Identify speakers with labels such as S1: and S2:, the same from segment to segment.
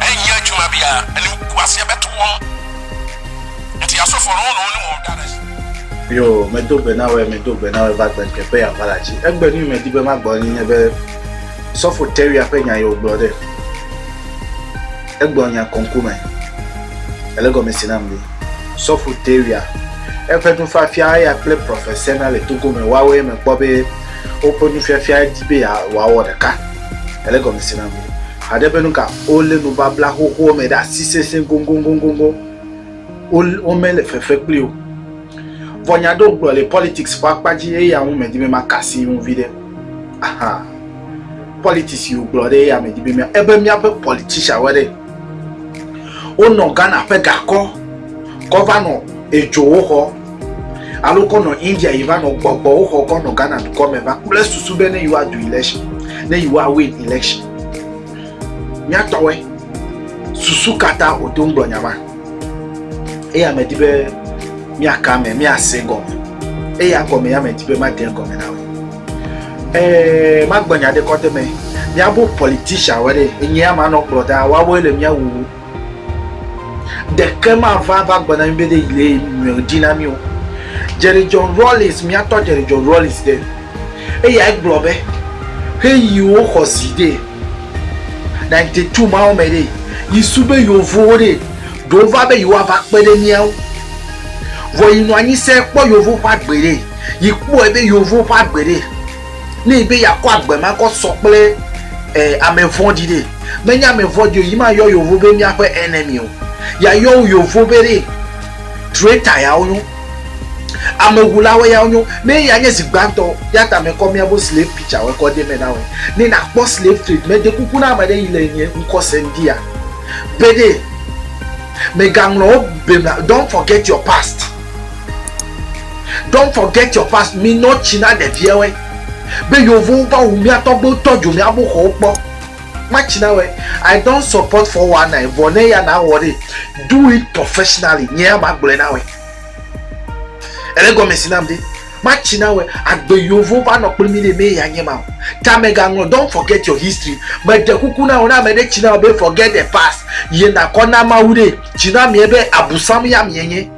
S1: Eyi ejuma bia eni uku asia be tu wɔm. Enti aso fɔ no no ni mo da ɖe. Yo, me do gbe na wɛ, me do gbe na wɛ va gbe nke pe ya va la ci. Egbe ni me di be ma gbɔ ni nye be sɔfo tewia pe nya yo gblɔ ɖe. Egbɔ nya kɔnku me. Ele gɔ me si nam li. Sɔfo tewia. Eƒe nu fa fia ya kple prɔfɛ sena le togo me wa wɛ me kpɔ be woƒe nu fia fia di be ya wa wɔ ɖeka. Ele gɔ me si nam li. Haɖe be nu ka? Wolé nubabla xoxoa me ɖe asi sesẽ goŋgoŋgoŋgoŋ. Wo, womele fefe kpli o. Vɔ nya aɖewo gblɔ le politics ƒe akpa dzi eya ŋu medi be maka asi ŋu viɖe. Aha. Politics yi wogblɔ ɖe eya medi be mía, ebe míaƒe politician woe ɖe. Wonɔ Ghana ƒe gakɔ kɔ va nɔ edzowo xɔ. alo kɔ nɔ India yi va nɔ gbɔgbɔ woxɔ kɔ nɔ Ghana dukɔ me va kple susu be ne yewoa du election ne yewoa win election mía tɔwɔe susu kata o to ŋgblɔ nyama eye ame di be mía ka me mía se gɔme eye agɔme ya me di be ma de gɔme na we ee ma gbɔ nya de kɔte me mía bo politician wɔ de enye ama nɔ kplɔ da wa wo le mía wuwu Ɖeke mava va gbe na mí be ɖe yi le nyrɔe dzi na mí o. Jerry John Rawlings, míatɔ Jerry John Rawlings ɖe, eyae gblɔ be, Ɣeyiɣiwo xɔ zi ɖe, ninety two mawo me ɖe, yi su be Yevowo ɖe, ɖewo va be yewoava kpe ɖe mía ŋu. Vɔ yi nɔ anyi se kpɔ Yevo ƒe agbe ɖe, yi kpɔe be Yevowo ƒe agbe ɖe. Ne yi be yeakɔ agbe ma kɔ sɔ kple eh, ame vɔ̃ɖi ɖe, menye ame vɔ̃ɖi o, yi ma yɔ yovo be míaƒe enemy o. Yayɔ wo yovo be ɖe traitor yawo nyo. Amewulawo yawo nyo. Ne eya nye zi gbãtɔ, ya ta mekɔ míaƒe slave picture wɔ kɔ de me na wɔ. Ne nakpɔ slave trade, mede kuku na ame ɖe yi le nye ŋkɔ sem di ya. Be ɖe, megaŋlɔ wo be, don't forget your past. Don't forget your past mi nɔ tsi na ɖeviɛwɛ be yovowo va wu mia tɔgbewo tɔ dzo mia bo xɔwo kpɔ ma tsi na wɛ I don't support four one nine vɔ ne ya na wɔ ɖee do it professionally nye ya ma gblɔɛ na wɛ ele gɔmɛ si nam ɖe ma tsi na wɛ agbe yovo va nɔ kpli mi ɖe me ya nye ma o ta me ga ŋlɔ don't forget your history me ɖe kuku na wɔ na me ɖe tsi na wɔ be forget the past ye na kɔ na mawu ɖe tsi na miɛ be abusam ya miɛ nye.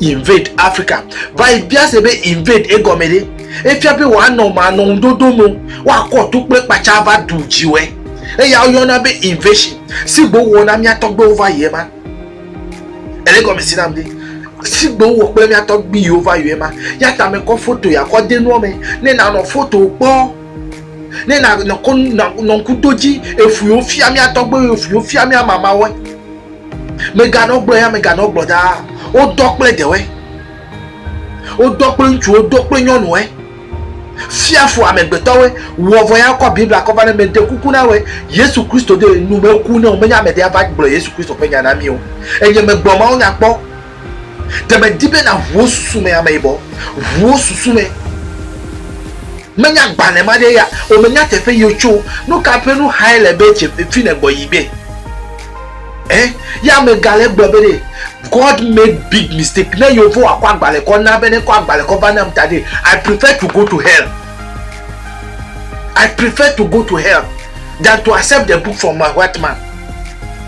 S1: Invade Africa. Va yi bia se be invade egɔme ɖe. Efia be wòanɔ manɔ ŋudodo me, woakɔ to kple kpatsa va ɖu dziwɔe. Eya woyɔna be invasion si gbe wowɔ na mía tɔgbewo va yi ema. Ele gɔmesi nam ɖe? Si gbe wowɔ kple mía tɔgbiwo va yi ema. Ya ta me kɔ foto ya kɔ de nua me ne nanɔ foto kpɔ. Ne nanɔ kɔ nɔ ŋku do dzi efuiwo fia mía tɔgbewo, efuiwo fia mía mamawoe. Meganɔ gblɔ ya meganɔ gblɔ ɖaa, wodɔ kple ɖewoe, wodɔ kple ŋutsuwo, wodɔ kple nyɔnuwoe, fia fu amegbetɔwoe, wɔ vɔ ya kɔ Biblia kɔ va ne meɖe kuku na woe, Yesu Kristo de nu meku ne womenya ame ɖe ava gblɔ Yesu Kristo ƒe nya na mí o. Enye megblɔ mawunya kpɔ. Te medi be nàʋu wo susu me ameyibɔ, ʋu wo susu me. Menya agbalẽ ma ɖe ya, o menya teƒe yi wotso, nu ka ƒe nu xae le be tse fi nègbɔ yi be. Eh, ya megale gblɔ be ɖe, God made big mistake, ne yewo va kɔ agbalẽ kɔ na be ne kɔ agbalẽ kɔ va nam ta ɖe, I prefer to go to hell. I prefer to go to hell than to accept the book from my white man.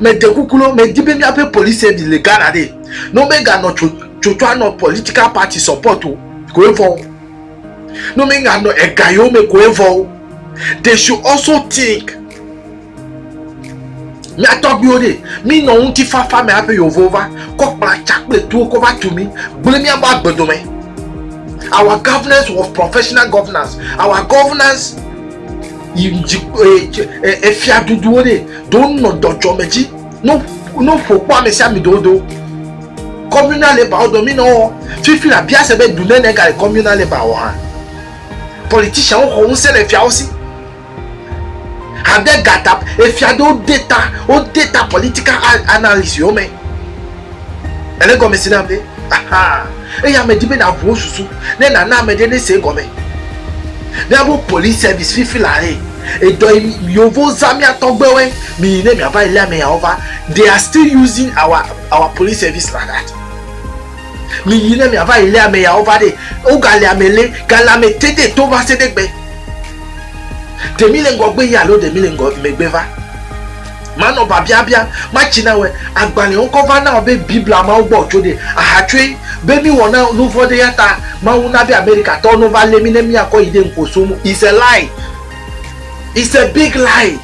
S1: Mede kuku no, medi be míaƒe police service le Ghana ɖe, ne womeganɔ tsotso anɔ political party support o koe vɔ o, ne womeganɔ ega yewo me koe vɔ o. They should also think. Mía tɔgbuiwo ɖe, mínɔ ŋutifafa me hafi yevowo va kɔ kplatsa kple tuwo kɔ va tu mí, gblẽ míaƒe agbedo me. Our governance was professional governance. Our governance efia ɖuɖuwo ɖe do nɔ dɔdzɔme dzi no no ƒo kpɔ ame sia ame do do communal labour wo do mi nɔ wɔ fifi la bia se be du ne ne ga le communal labour wɔ hã politician wo xɔ ŋusẽ le fiawo si hade gata efia do deta wo deta political analysis wo me. Ele gɔme si nam be, aha, eya ame di be na ʋuwo susu, ne na na ame ɖe ne se gɔme. Ne abo police service fifi la he, edɔ yi yovo za mia tɔgbewe, mi yi ne mia va yi le ame ya wo va, they are still using our, our police service like that. Mi yi ne mia va yi le ame ya wo va de, o ga le ame le, ga le ame te de to va se de gbe. Demi le ngɔ gbe yi alo demi le ngɔ megbe va. Manɔ biabia biam, matsi na wòe. Agbalẽ ŋkɔ va na wò be Biblia mawo gbɔ wòtso ɖe. Aha tsoe be míwɔ na nu vɔ̃ ɖe ya ta Mawu na be Amerikatɔwo no va lé mí ne míakɔ yi ɖe ŋkposo ŋu. It's a lie. It's a big lie.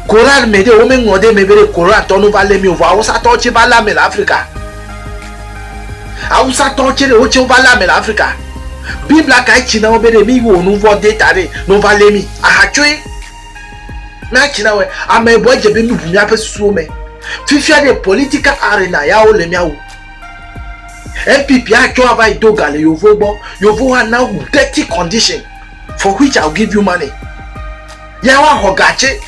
S1: Koran me ɖe, wome ŋlɔ ɖe eme be ɖe Korantɔwo no va lé mí o vɔ Awusatɔwo tsɛ va lé ame le Afrika. Awusatɔwo tsɛ ɖe wotsɛ wova lé ame le Afrika. Biblia kae tsi na wo be ɖe míwɔ nu vɔ̃ ɖe ta ɖe ne wova lé mí? Aha tsoe. Na tsi na wɛ. Ame bɔe dze be mi ʋu miaƒe susuwo me. Fifia ɖe political arena ya wo le mia wu. NPP a tsɔ ava yi do ga le yovo gbɔ. Yovo wa na wu dirty condition for which I will give you money. Ya wa xɔ ga tse.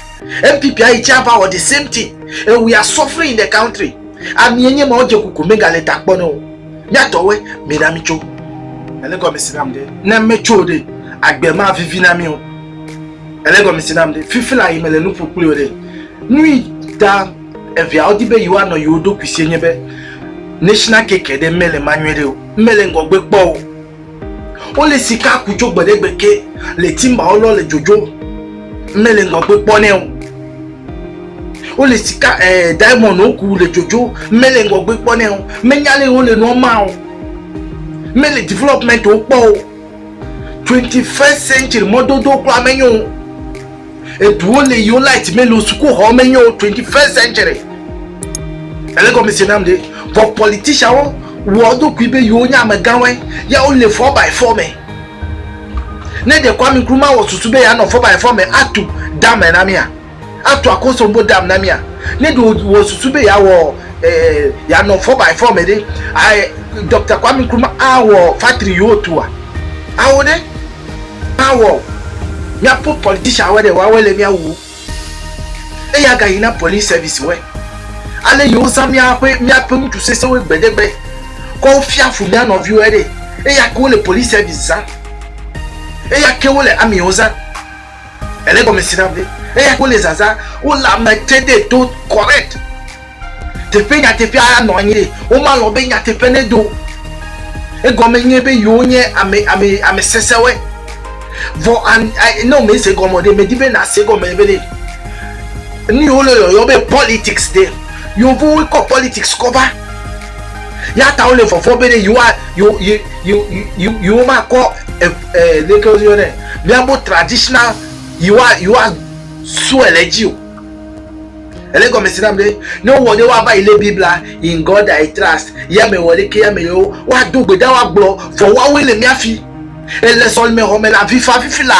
S1: NPP a yi tse ava wɔ the same thing and we are suffering in the country. Ami ye nye ma wo dze kuku mi ga le ta kpɔ ne wo. Mia tɔ woe mi na mi tso. Ele gɔme si nam ɖe. Ne me tso ɖe agbe ma vivi na mi o. Ele gɔme si nam ɖe fifi la yi mele nu ƒo kpli o ɖe. Nu yi ta eviawo di be yewoanɔ yewo ɖokui sie nye be national keke ɖe mele ma nyuie ɖe o. Mele ŋgɔgbe kpɔ o. Wole sika ku tso gbe ɖe gbe ke le timbawo lɔ le dzodzo. Mele ŋgɔgbe kpɔ nɛ o. Wole sika eh, diamond wo ku le dzodzo. Mele ŋgɔgbe kpɔ nɛ o. Menya le wole nua ma o. Mele development wo kpɔ o. twenty first century mɔdodo kura menye o eduwo le yiwo light mele o sukuxɔ menye o twenty first century ele gɔme se nam de vɔ politicianwo wɔ ɖokui be yewo nye amegãwoe ya wole four by four me ne ɖe Kwame Nkrumah wɔ susu be yeanɔ four by four me atu dame na mía Atu akosombo dam na mia. Ne ɖe wò susu be yeawɔ yeanɔ four by four me ɖe, Doctor Kwame Nkrumah awɔ factory yi wotua? Ao ɖe! Mawɔ o. Míaƒe politician woe ɖe, woawoe le mía wuwo. Eya gayi na police service woe. Ale yi wozã míaƒe míaƒe ŋutsu sesẽwoe gbedegbe kɔ wofia fu mía nɔviwoe ɖe. Eya ke wole police service zã. Eya ke wole army wo zã. Ele gɔme si na be eya wole zazã, wole ame te de to correct. Teƒe nyateƒea ya nɔ anyi. Woma lɔ be nyateƒe ne do. Egɔme nye be yewo nye ame ame ame sesewɔe. Vɔ an ne wo me se gɔme ɖe, me di be na se gɔme be ɖe. Ni wo le yɔyɔ be politics ɖe. Yovo wo kɔ politics kɔ va. Ya ta wo le vɔvɔ be ɖe yewo a yewo yewo yewo yewo ma kɔ eh, leke woyɔ nɛ miabo traditional yiwa yiwa sue le dzi o ele gɔme si nam ɖe ne wowɔ ɖe woava yi lé biblia in god i trust ya me wɔ leke ya me yewo woado gbe da woagblɔ vɔ woawoe le mía fi ele sɔlime xɔ me le avifa fifi la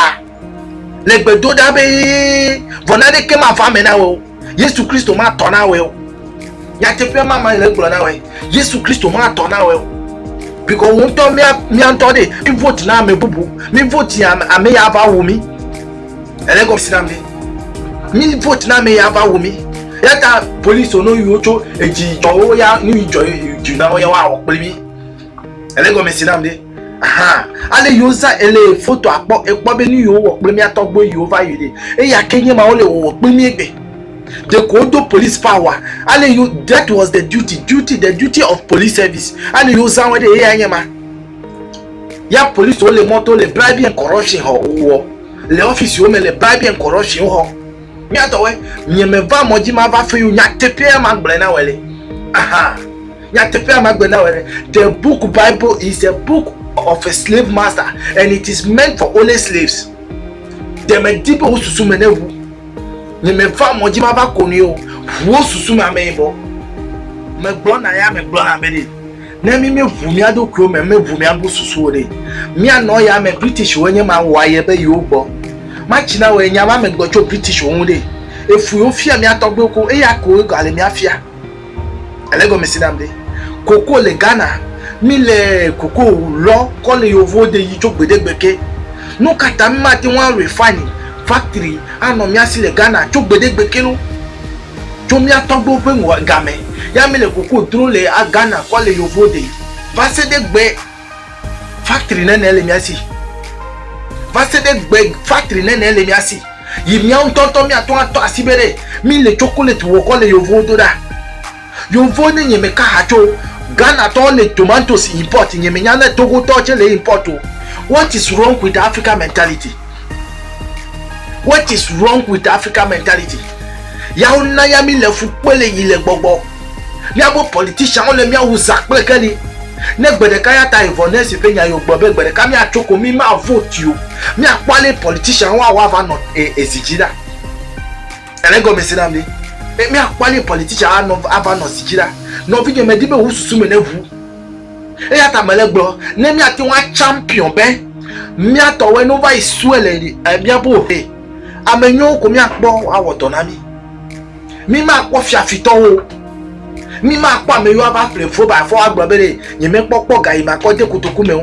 S1: le gbedo ɖa be vɔ naneke mava me na wɔ o yesu kristo ma tɔ na wɛ o nyateƒe ma ma le gblɔ na wɛ yesu kristo ma tɔ na wɛ o bikɔ wo ŋutɔ mia mia ŋutɔ de mi vote na ame bubu mi vote ame ame ya va wu mi ele gɔmisi na mi mi vote na ame ya va wu mi yata polisi wo no yiwo tso edzi jɔwo ya nu yi jɔ yi dzi na wo ya wa wɔ kpli mi. Ele gɔme si nam ɖe. Aha, ale yiwo zã ele foto akpɔ ekpɔ be nu yiwo wɔ kple mía tɔgbuiwo yiwo va yi ɖe. Eya ke nye ma wole wɔwɔ kple mí egbe. Ɖeko wodo police power. Ale yiwo that was the duty, duty, the duty of police service. Ale yiwo zã wɔ ɖe eya nye ma. Ya police wole mɔto le bribe and corruption hɔ wɔ le office wo me le bribe and corruption hɔ. Mía tɔwɔe, nye me va mɔdzi ma va fe yo nyateƒea ma gblɔe na wɔ le. Aha. Nyateƒea magblɔe na wò ɖe. The book Bible is a book of a slave master and it is meant for only slaves. Ɖe mèdi be wò susu me neʋu? Nye meva mɔ dzi mava ko nui o. Ʋu wò susu me ameyibɔ. Megblɔ na ya megblɔ na be ɖe. Ne mí míeʋu mía ɖokuiwo me, míeʋu mía bu susuwo ɖe. Míanɔ ya me Britishwoe nye ma wɔ aye be yewo gbɔ. Matsi na wòe nya ma megblɔ tso Britishwo ŋu ɖe. Efui wofia mía tɔgbuiwo ko eya koe gale mía fia. Ele gɔme si nam ɖe. Koko le Ghana. Mi le koko lɔ kɔ le yovowo de yi tso gbedegbe ke. Nu ka ta mi ma te ŋu a refine factory a nɔ mía si le Ghana tso gbedegbe ke lo? Tso mía tɔgbewo ƒe ŋgɔ gamɛ ya mi le koko dro le a Ghana kɔ le yovowo de yi va se ɖe gbe. Factory nene le mía si. Va se ɖe gbe factory nene le mía si. Yi míawo ŋutɔ ŋutɔ míatɔ atɔ asi be ɖe mí le chocolate wɔkɔ le yovowo do ɖa. Yovo ne nye me ka ha tso Ghana tɔwo le tomatoes import nye me nya ne Togo tɔwo tse le import o. What is wrong with Africa mentality? What is wrong with African mentality? Ya wo na ya mi le fu kpe le yi le gbɔgbɔ. Mia bo politician wo le mia wu za kple ke ni. Ne gbe ɖeka ya ta evɔ ne si ƒe nya yo gbe be gbe ɖeka mia tso ko mi ma vote yo. Mia kpɔ ale politician wo awa va nɔ e ezi dzi ɖa. Ele gɔme si nam ni. Mia kpɔ ale politician a nɔ a va nɔ zi dzi ɖa. Nɔvi nye me di be wu susu me ne ŋu. Eya ta mele gblɔ ne míate ŋu atsampion be mía tɔwoe no va yi sue le eh, míaƒe ohe. Ame nyuiwo ko míakpɔ awɔ dɔ na mí. Mímakpɔ fiafitɔwo o. Mímakpɔ ame yiwo ava ƒle fobafoa agblɔ be ɖe nyemekpɔ kpɔ gayimakɔ de kotoku me o.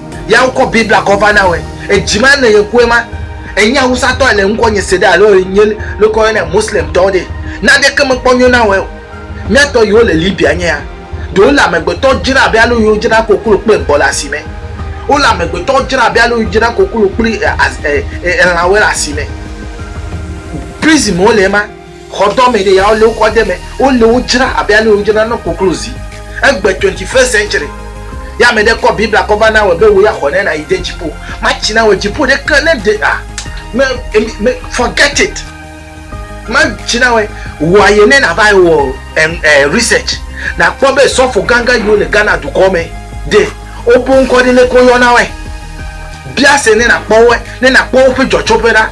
S1: Ya wokɔ Biblia kɔ va na wɛ. Edzi ma ne yekue ma, enye awusatɔ ele ŋkɔ nye se ɖe alo enye lekɔ yɔ ne Muslim tɔ ɖe. Naneke me kpɔ nyo na wɛ o. Mia tɔ yiwo le Libya nye ya. Ɖewo le amegbetɔ dzra abe ale yiwo dzra koklo kple gbɔ le asime. Wole amegbetɔ dzra abe ale yiwo dzra koklo kple elãwe le asime. Prison me wole ema. Xɔdɔmeɖe yawo le wokɔ de eme. Wole wo dzra abe ale wodzra na koklozi. Egbe twenty first century ye ame ɖe kɔ Biblia kɔ va na wɔ be wò ya xɔ ne nayi de dziƒo. Matsi na wɔ dziƒo ɖe ke ne ɖe ah me emi me forget it. Matsi na wɔe wɔ aye ne na va wɔ en eh research na kpɔ be sɔfo ganga yiwo le Ghana dukɔ me de wobo ŋkɔ ɖe le ke wo yɔ na wɔe. Bia se ne na kpɔ wɔe ne na kpɔ woƒe dzɔtsoƒe ɖa.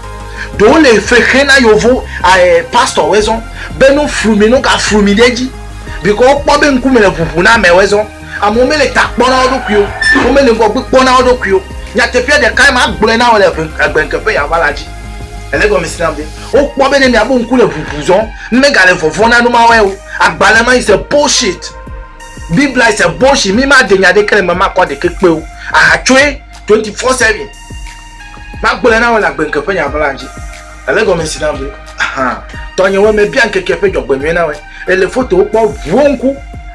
S1: Ɖe wole efe xe na yovo eh, pastor we zɔn be no frumi no ka frumi ɖe dzi because wo kpɔ be ŋkume le ʋuʋu na ame we zɔn. Amewo mele ta kpɔ na wo ɖokui o, wo mele ŋgɔgbe kpɔ na wo ɖokui o. Nyateƒea ɖekae ma gblɔe na wo le ʋe egbe ŋkeƒe ya va la dzi. Ele gɔmesi nam be wo kpɔ be ne mia bo ŋku le ʋuʋu zɔn, ŋme ga le vɔvɔ na numa we o. Agbalẽ ma is a bullshit. Biblia is a bullshit. Mi ma de nya ɖeke le me ma kɔ ɖekekpe o. Aha tsoe twenty four seven. Magblɔe na wò le agbenke ƒe nya ʋlã dzi. Èlé gɔme si nam be, Ahan, tɔnyewoe mebia ŋkekea ƒe dzɔgbenyui na wòe. Èle fotowo kpɔ ʋuwo ŋku,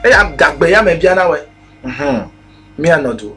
S1: eye adagbe ya mebia na wòe. Mhum, míanɔ du.